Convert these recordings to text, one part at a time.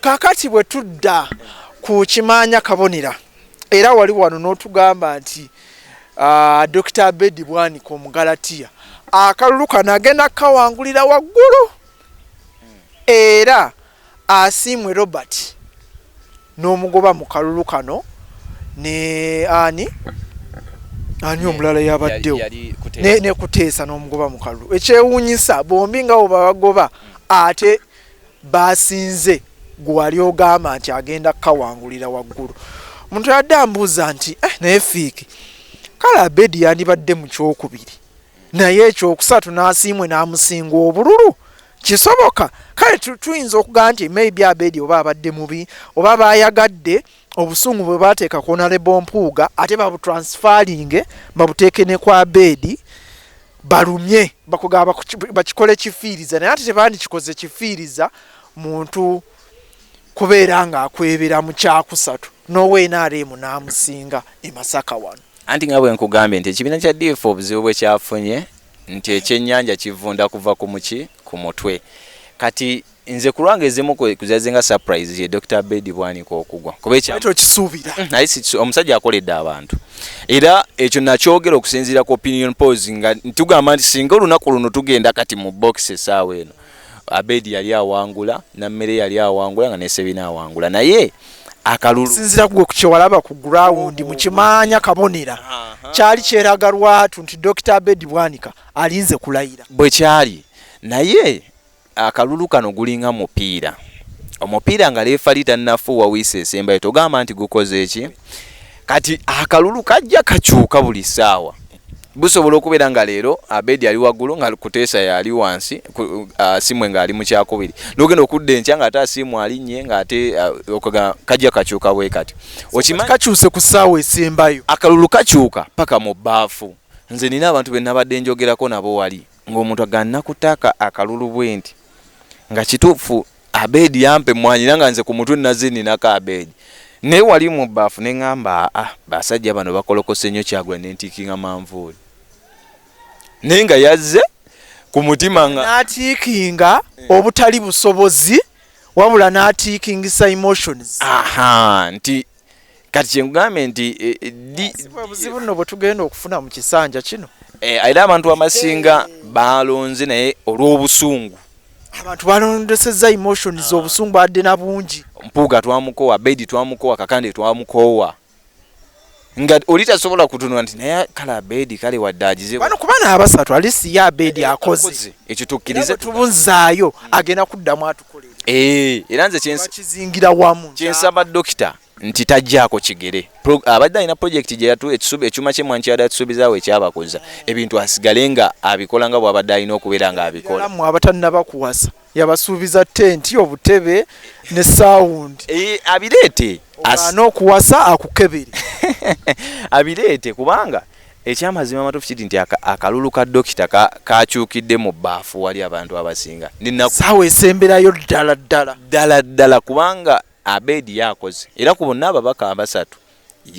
Kakati bwe tudda ku Kimaanya Kabonera era wali wano n'otugamba nti Dokita Abedi Bwanika Omugalatiya akalulu kano agenda kukawangulira waggulu era Asiimwe Robert n'omugoba mu kalulu kano ne ani ani omulala yabaddewo ne Kuteesa n'omugoba mu kalulu ekyewuunyisa bombi nga bwe babagoba ate baasinze gwe wali ogamba nti agenda kukawangulira waggulu omuntu yadde ambuuza nti eh, naye fiiki kale abedi yandibadde mu kyokubiri naye ekyokusatu n'asiimwe n'amusinga obululu kisoboka kale tuyinza okugamba nti maybe abedi oba abadde mubi oba baayagadde obusungu bwe baateeka ku onalebo mpuuga ate babutransfalinge babuteeke ne kwa beedi balumye bakugaba bakikole kifiiriza naye ate tebandikikoze kifiiriza muntu kubeera ng'akwebera mu kyakusatu n'owa nrm n'amusinga e masaka wano anti nga bwe nkugambye nti ekibiina kya df obuzibu bwe kyafunye nti ekyennyanja kivunda kuva ku muki ku mutwe kati Nze kulwanga ezimu kuzaze nga surprise ye Dr. Bedi Bwanika okugwa kuba ekya Petro Kisubira mm, naye si omusajja akoledde abantu era ekyo nakyogera okusinziira ku opinion polls nga tugamba nti singa olunaku luno tugenda kati mu box esaawa eno Abedi yali awangula na mmere yali awangula nga nesebina awangula naye akalulu sinzira kugwe kukyewalaba ku ground mu kimanya kabonera kyali kyeraga lwatu nti Dr. Abedi Bwanika alinze kulayira bwe kyali naye Akalulu kano gulinga mupiira. Omupiira nga leefali tannafuuwa wiisi esembayo togamba nti gukoze eki? Kati akalulu kajja kakyuka buli ssaawa. Busobola okubeera nga leero Abedi ali waggulu nga Kuteesa yali wansi, Asiimwe ng'ali mu kyakubiri. N'ogenda okudda enkya ng'ate Asiimwe alinnye ng'ate okugamba kajja kakyuka bwe kati. Okimanyi kakyuse ku ssaawa esembayo. Akalulu kakyuka paka mu bbaafu. Nze nnina abantu be nnabadde njogerako nabo wali. ng'omuntu aganna ku taaka akalulu bwenti nga kituufu abeedi yampa emmwanyi era nga nze ku mutwe nazze ninako abeedi naye wali mu bbaafu ne ŋŋamba aa basajja bano bakolokose nnyo kyagula ne ntiikinga manvuuli naye nga yazze ku mutima nga n'atiikinga eh. obutali busobozi wabula n'atiikingisa emotions aha nti kati kyenkugambye nti eh, eh, obuzibu nno bwe tugenda okufuna mu kisanja kino eh, era abantu abasinga balonze naye olw'obusungu abantu balondeseza emotions ah. obusungu badde na bungi mpuuga twamukowa bedi twamukowa kakande twamukowa nga oli tasobola kutunula nti naye kale abedi kale wadde agizebano kuba naabasatu alisi ye abedi akoze ekyo tukkirize tubuzaayo agenda kuddamu okukolera eh era nze kyensi kizingira wamu kyensi aba doctor nti tajjaako kigere abadde alina projekiti gye yatu ekisubi ekyuma kye mwanki yadde atusuubizaawo ekyabakoza ebintu asigale nga abikola nga bwabadde alina okubeera nga abikola mwe abatannaba kuwasa yabasuubiza tenti obutebe ne sawundi eh, abireete anokuwasa akukebere abireete kubanga Ekyamazima amatuufu kidi nti akalulu ka Dokita kakyukidde mu baafu wali abantu abasinga saawa esemberayo ddala ddala ddala ddala kubanga Abed yakoze era ku bonna ababaka abasatu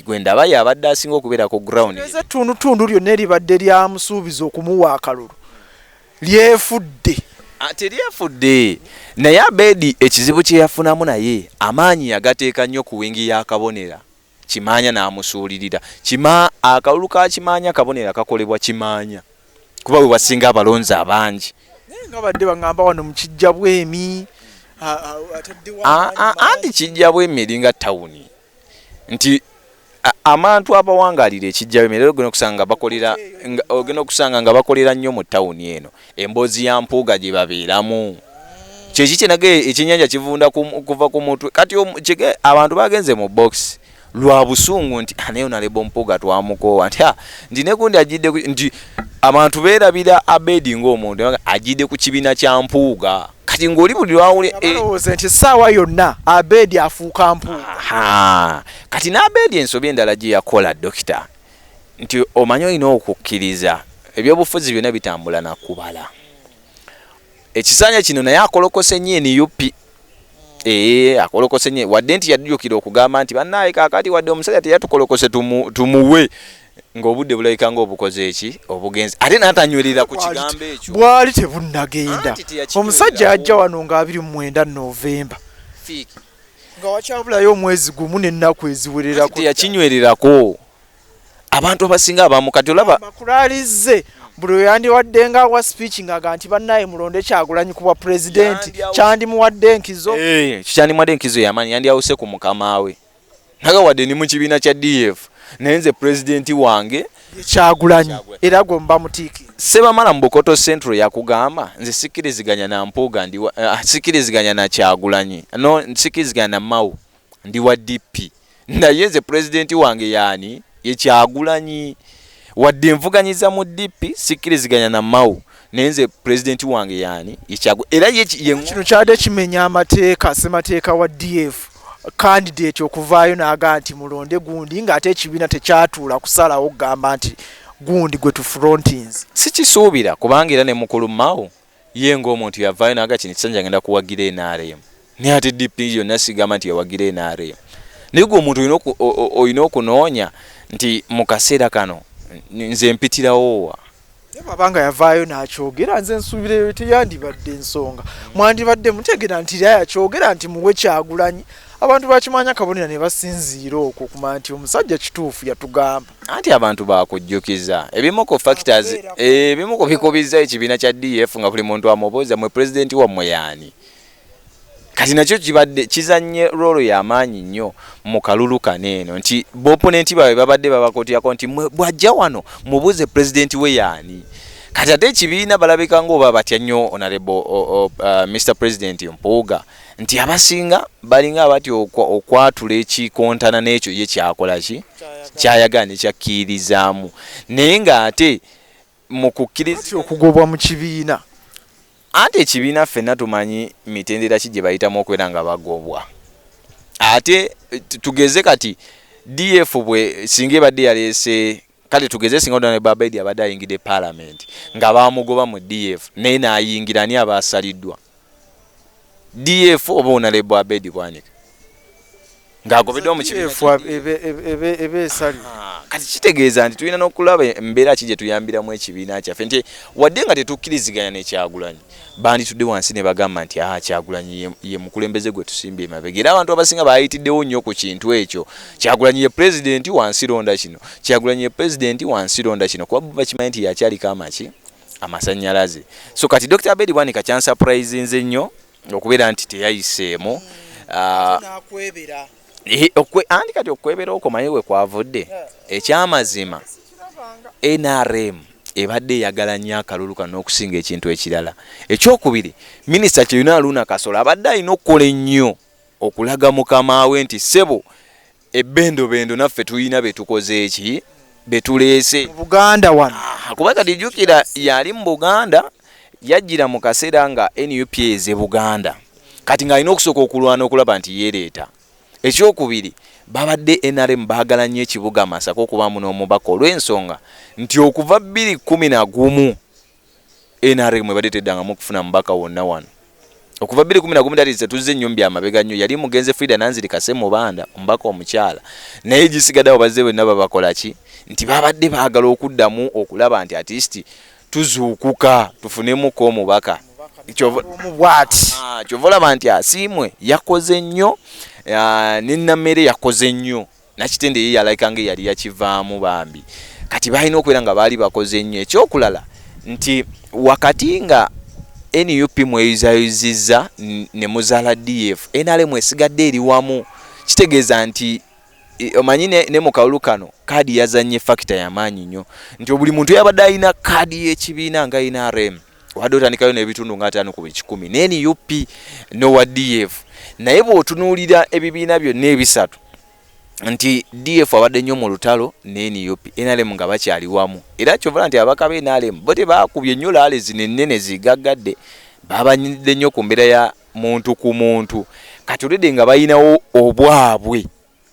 gwendaba yabadde asinga okubeera ku ground. Ettundutundu lyonna eribadde lyamusuubiza okumuwa akalulu lyefudde. Ah, teryefudde naye Abed ekizibu kyeyafunamu naye amaanyi yagateeka nnyo ku wingi ya Kabonera. Kimaanya n'amusuulirira. Kima, akalulu ka Kimaanya kabonero akakolebwa Kimaanya kuba we wasinga abalonzi abangi. Naye nga babadde bang'amba wano mu Kijjabwemi, ataddewo amaanyi mangi. Anti Kijjabwemi eringa ttawuni nti amantu abawangaalira e Kijjabwemi leero ogenda okusanga nga bakolera, ogenda okusanga nga bakolera nnyo mu ttawuni eno. Emboozi ya Mpuuga gye babeeramu. Kyeki kye nage ekyennyanja kivunda kuva ku mutwe. Kati abantu bagenze mu box lwa busungu nti ah, naye onalebo Mpuuga twamukoowa nti ah, nti ne gundi ajjidde nti abantu beerabira Abedi ng'omuntu ajjidde ku kibiina kya Mpuuga. kati ng'oli buli lwawule eh, balowooza nti essaawa yonna abeedi afuuka mpu kati n'abeedi ensobi endala gye yakola dokita nti omanyi olina okukkiriza ebyobufuzi byona bitambula nakubala ekisanja kino naye akolokose nyo enup ee eh, akolokose nyo wadde nti yadujukira okugamba nti banaye kakati wadde omusajja teyatukolokose tumuwe ngaobudde bulabika nga obukoze eki obugenzi ate natanywerera ku kigambo ekyo bwali tebunnagenda omusajja ajja wano nga abiri mu mwenda novemba nga wakyabulayo omwezi gumu nennaku eziwererako teyakinywererako abantu abasinga abamu kati olaba makulalizze buli oyandiwadde nga wa speech ngaga nti bannaye mulonde kyagulanyi ku bwa pulezidenti kyandimuwadde enkizo eh, kyandimuwadde enkizo yamanyi yandiyawuse ku mukama we naga wadde ni mu kibiina kya df naye nze pulezidenti wange kyagulanyi era gwe muba mutiiki sebamala mubukoto central yakugamba nze sikiriziganya na mpuuga ndi eh, ah, sikiriziganya na kyagulanyi no sikiriziganya na mau ndi wa dp naye nze pulezidenti wange yaani yekyagulanyi wadde nvuganyiza mu dp sikiriziganya na mau naye nze pulezidenti wange yaani yekyagu era kino kyade kimenya amateeka semateeka wa df kandidate okuvaayo naaga nti mulonde gundi ng'ate ekibiina tekyatuula kusalawo okugamba nti gundi gwe tufrontins sikisuubira kubanga era ne mukulu mao ye ngaomuntu yavaayo naaga kino ekisanja ngenda kuwagira nrm naye ate DP yonna sigamba nti yawagira NRM naye gwe omuntu olina okunoonya nti mu kaseera kano nze mpitirawowa bwabanga yavaayo nakyogera nze nsuubireyo teyandibadde ensonga mwandibadde mutegera nti ra yakyogera nti muwe kyagulanyi abantu bakimanya kabonera ne basinziira okwo kuma nti omusajja kituufu yatugamba anti abantu bakujjukiza ebimu ku factors ebimu ku bikubizza ekibiina kya df nga buli muntu amubuuza mwe pulezidenti wammwe yaani kati nakyo kibadde kizannye roolo y'amaanyi nnyo mu kalulu kano eno nti booponenti baabwe babadde babakotyako nti bw'ajja wano mubuuze pulezidenti we yaani kati ate ekibiina balabika ngaoba batya nnyo onarebo uh, mr president mpuuga nti abasinga balinga abati okwatula ekikontana n'ekyo ye kyakola ki kyayagala nekyakkiirizaamu naye ng'ate mu kukkiriza okugobwa mu kibiina. Anti ekibiina ffenna tumanyi mitendera ki gye bayitamu okubeera nga bagobwa. Ate tugeze kati DF bwe singa ebadde yaleese kale tugeze singa Donald Babedi abadde ayingidde palamenti nga baamugoba mu DF naye n'ayingira ani aba asaliddwa? df oba onalebo abedi bwanika ng'agobeddwa mu kibiinaebe esali ah, kati kitegeeza nti tulina n'okulaba embeera ki gye tuyambiramu ekibiina kyaffe nti wadde nga tetukkiriziganya nekyagulanyi banditudde wansi ne bagamba nti aa ah, kyagulanyi ye mukulembeze gwe tusimbye emabega era abantu abasinga baayitiddewo nnyo ku kintu ekyo kyagulanyi ye pulezidenti wansi londa kino kyagulanyi ye pulezidenti wansi londa kino kuba bakimanyi nti yakyaliko amaki amasanyalaze so kati dr bedi bwanika kyansuprisnze nnyo okubeera nti teyayiseemu hmm. ah, eh, anti kati okwebera okwo maye we kwavudde ekyamazima nrm ebadde eyagala nnyo akalulu kano n'okusinga ekintu ekirala ekyokubiri minisita kyeyuna aluuna kasola abadde alina okukola ennyo okulaga mukama we nti ssebo Ebendobendo naffe tulina betukoze ki betuleese Buganda wano ah, kuba kati jukira yali mu Buganda yajjira mu kaseera nga nup eze Buganda kati ng'alina okusooka okulwana okulaba nti yeereeta ekyokubiri babadde nrm baagala nnyo ekibuga masaka okubaamu n'omubaka olw'ensonga nti okuva bbiri kkumi na gumu nrm ebadde teddangamu kufuna mubaka wonna wano. Okuva bbiri kkumi na gumu that is tetuzze nnyo mu bya mabega nnyo yali mugenze Frida Nanzirika Ssemubanda omubaka omukyala naye gisigaddewo bazze bonna babakola ki nti babadde baagala okuddamu okulaba nti at least tuzuukuka tufunemuko omubaka kyova ah, olaba nti asiimwe yakoze nnyo ah, ne namere yakoze nnyo Nakitende ye yalaika nga eyali yakivaamu bambi kati balina okubeera nga baali bakoze nnyo ekyokulala nti wakati nga nup mweyuzayuzizza ne muzaala df nrm esigadde eri wamu kitegeeza nti omanyi ne, ne mu kalulu kano kaadi yazannye fakita yamaanyi nnyo nti buli muntu yabadde alina kaadi y'ekibiina nga nrm wadde otandikayo n'ebitundu nga ataano ku buli kikumi ne nup nowa df naye bw'otunuulira ebibiina byonna ebisatu nti df abadde nnyo mu lutalo ne nup nrm nga bakyali wamu era kyovala nti abaka be nrm bo tebaakubye nnyo laale zino ennene zigaggadde babanyidde nnyo ku mbeera ya muntu ku muntu kati olwedde nga balinawo obwabwe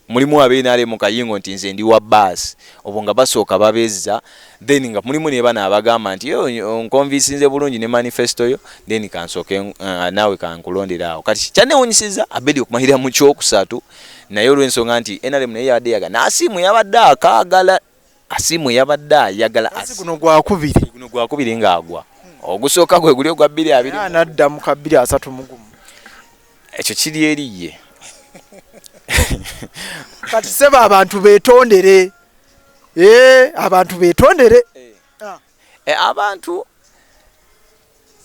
mulimu abe nrm kayingo nti nze ndi wa bus obwo nga basooka babezza then nga mulimu nebana abagamba nti onkonvisinze bulungi ne manifesto yo then kansooke eh, naawe kankulondere awo kati kyanewunyisiza abedi okumalira mu kyokusatu naye olwensonga nti nrm naye yabadde yaga nasiimu yabadde akaagala Asiimwe yabadde ayagala asi- guno gwakubiri guno gwakubiri ng'agwa ogusooka gwe guli ogwa bbiri abiri era anadda mu ka bbiri asatu mu gumu ekyo kiri eri ye kati sebo abantu betondere Eh, abantu betondere E, abantu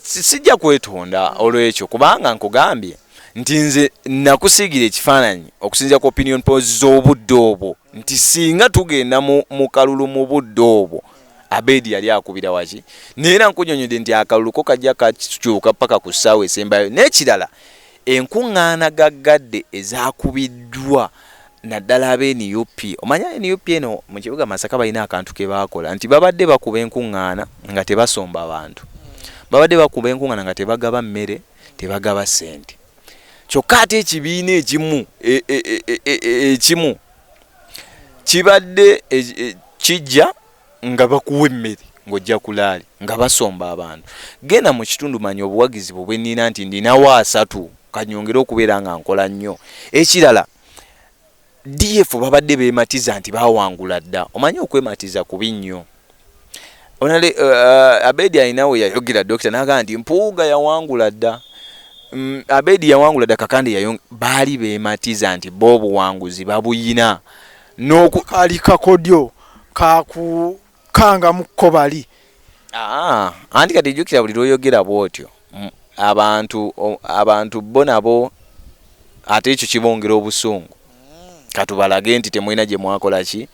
sijja kwetonda olwekyo kubanga nkugambye nti nze nakusiigira ekifaananyi okusinzira ku opinion pos z'obudde obwo nti singa tugenda mu kalulu mu budde obwo abedi yali akubira waki naye era nkunyonyode nti akalulu ko kajja kakyuka paka ku ssaawa esembayo n'ekirala Enkungaana gaggadde ezakubiddwa naddala abe nup. Omanya nup eno mu kibuga Masaka balina akantu ke baakola nti babadde bakuba enkungaana nga tebasomba bantu. Babadde bakuba enkungaana nga tebagaba mmere, tebagaba ssente. Kyokka ate ekibiina ekimu e, e, e, ekimu kibadde kijja nga bakuwa emmere ng'ojja kulaali nga basomba abantu genda mu kitundu manya obuwagizi bwe bwenina nti ndinawo asatu kanyongere okubeera nga nkola nnyo ekirala df babadde bematiza nti bawangula dda omanyi okwematiza kubi nnyo onale uh, uh, abedi alinawe yayogera dokita nagaa nti mpuuga yawangula dda mm, abedi yawangula dda kakande yayong baali bematiza nti bo obuwanguzi babuyina Noku kali kakodyo kakukanga muko bali. Aa anti kati jukira buli lwoyogera bwotyo abantu abantu bo nabo ate ekyo kibongera obusungu katubalage nti temulina gye mwakola ki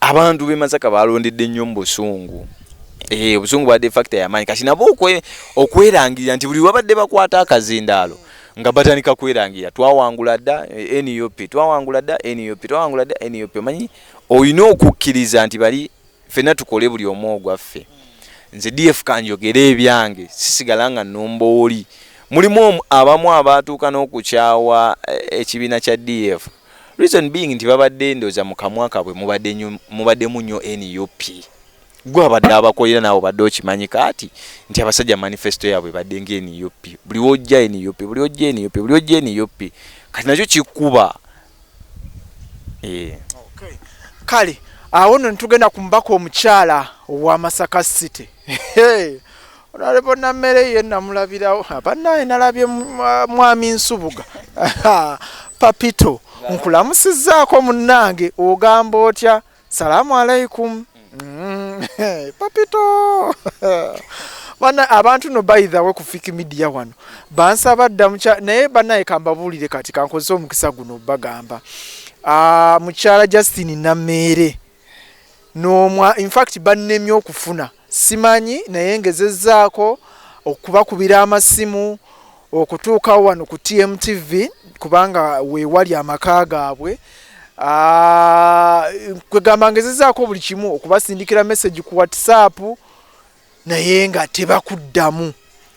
abantu be masaka balondedde nnyo mu busungu ee eh, obusungu bwabadde fakita yamaanyi kati nabo okwerangirira nti buli wabadde bakwata akazindaalo nga batandika kwerangira twawangula dda eh, nup twawangula dda nup twawangula dda nup omanyi olina okukkiriza nti bali fenna tukole buli omu ogwaffe nze df kanjogere ebyange sisigala nga numba oli mulimu abamu abaatuuka n'okukyawa eh, ekibiina kya df reason being nti babadde ndoza mukamwa kabwe mubadde mubadde munyo nup gwe abadde abakolera naawe obadde okimanyi kaati nti abasajja manifesto yaabwe ebadde nga nup buli wojja nup buli wojja nup buli wojja nup kati nakyo kikuba eh. kale awo no netugenda ku mubaka omukyala owa masaka city onalebo nammere ye namulabirawo abanaye nalabye mwami nsubuga papito nkulamusizaako munnange ogamba otya Salamu alaikum mm. papito bana abantu no by the way ku fiki media wano bansaba dda mucha naye banaye kambabuulire kati kankozesa omukisa guno bagamba ah, mukyala Justin Nameere n'omwa in fact bannemye okufuna Simanyi naye ngezezzaako okubakubira amasimu okutuuka wano ku TMTV kubanga weewali amaka gaabwe ah, kwegamba ngezezzaako buli kimu okubasindikira message ku WhatsApp naye nga tebakuddamu.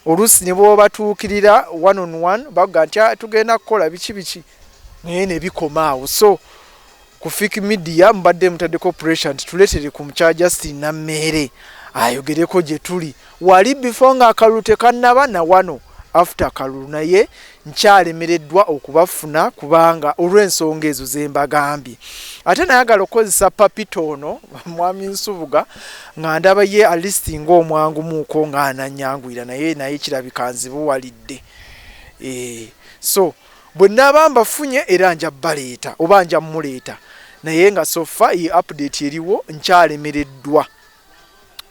oluusi ne bwobatuukirira one on one baga nti ah, tugenda kukola biki biki naye ne bikoma awo so ku fik media mubadde mutaddeko pressure nti tuletere ku mukya justin nammeere ayogereko gye tuli wali bifo nga akalulu tekannaba na wano after kalulu naye nkyalemereddwa okubafuna kubanga olw'ensonga ezo ze mbagambye ate nayagala okukozesa papita ono mwami nsubuga nga ndaba ye alisti ngaomwangumuuko nga ananyanguyira naye naye kirabika nzibuwalidde e, so bwe naaba mbafunye era nja baleeta oba nja muleeta naye nga sofa ye update eriwo nkyalemereddwa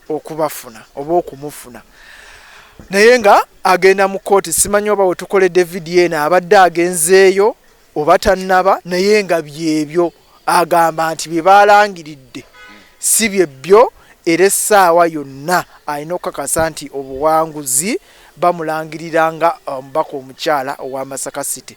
okubafuna oba okumufuna naye nga agenda mu kooti simanyi oba wetukoledde vidiyo eno abadde agenzeeyo oba tannaba naye nga byebyo agamba nti bye balangiridde si byebbyo era essaawa yonna alina okukakasa nti obuwanguzi bamulangirira nga omubaka omukyala owa masaka city